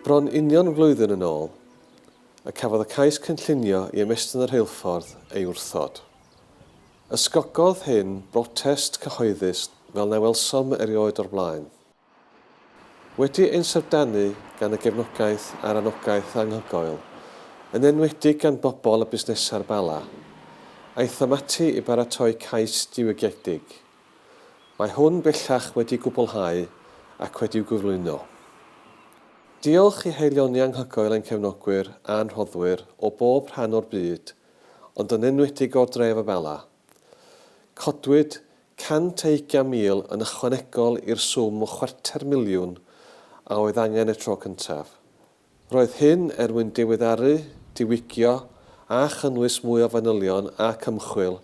Bron union flwyddyn yn ôl, y cafodd y cais cynllunio i ymestyn y rheilffordd ei wrthod. Ysgogodd hyn brotest cyhoeddus fel na welsom erioed o'r blaen. Wedi ein syfrdanu gan y gefnogaeth a'r anogaeth anhygoel, yn enwedig gan bobl a busnesau'r Bala, aethom ati i baratoi cais diwygiedig. Mae hwn bellach wedi gwblhau ac wedi'w gyflwyno. Diolch i haelioni anhygoel ein cefnogwyr a'n rhoddwyr o bob rhan o'r byd, ond yn enwedig o'r dref y Bala, Codwyd 120,000 yn ychwanegol i'r swm o chwarter miliwn a oedd angen y tro cyntaf. Roedd hyn er mwyn diweddaru, diwygio a chynnwys mwy o fanylion ac ymchwil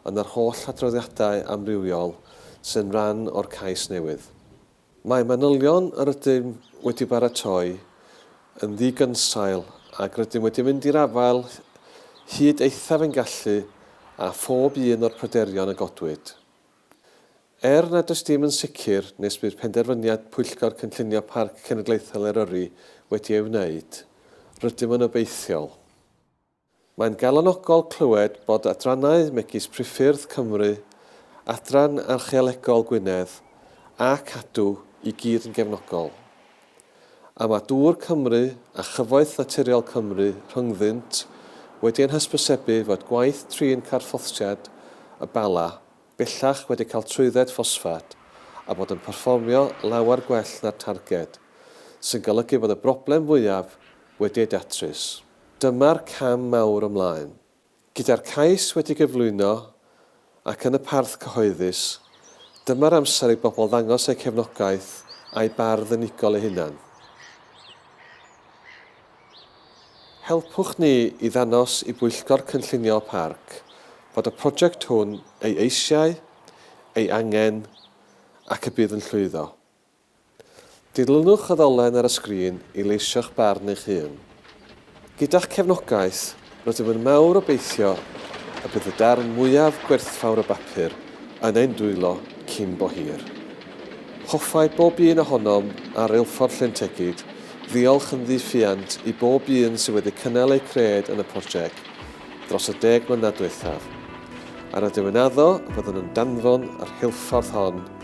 yn yr holl adroddiadau amrywiol sy'n rhan o'r cais newydd. Mae manylion yr ydym wedi baratoi yn ddigynsail ac rydym wedi mynd i'r afael hyd eithaf ein gallu â phob un o'r pryderon a godwyd. Er nad oes dim yn sicr nes bydd penderfyniad Pwyllgor Cynllunio Parc Cenedlaethol Eryri wedi ei wneud, rydym yn obeithiol. Mae'n galonogol clywed bod adrannau megis Priffyrdd Cymru, Adran Archeolegol Gwynedd a Cadw i gyd yn gefnogol. A mae Dŵr Cymru a Chyfoeth Naturiol Cymru rhyngddynt wedi ein hysbysebu fod gwaith trin carthffosiad y Bala bellach wedi cael trwydded ffosffat a bod yn perfformio lawer gwell na'r targed, sy'n golygu bod y broblem fwyaf wedi ei datrys. Dyma'r cam mawr ymlaen. Gyda'r cais wedi gyflwyno ac yn y parth cyhoeddus, dyma'r amser i bobl ddangos eu cefnogaeth a'u bardd unigol eu hunain. Helpwch ni i ddangos i Bwyllgor Cynllunio y Parc fod y prosiect hwn ei eisiau, ei angen ac y bydd yn llwyddo. Dilynwch y ddolen ar y sgrin i leisio'ch barn eich hun. Gyda'ch cefnogaeth, rydym yn mawr obeithio y bydd y darn mwyaf gwerthfawr o bapur yn ein dwylo cyn bo hir. Hoffai bob un ohonom ar Reilffordd Llyn Tegid ddiolch yn ddi-ffiant i bob un sydd wedi cynnal eu cred yn y project dros y deg mlynedd dwethaf, a rydym yn addo y byddwn yn danfon y rheilffordd hon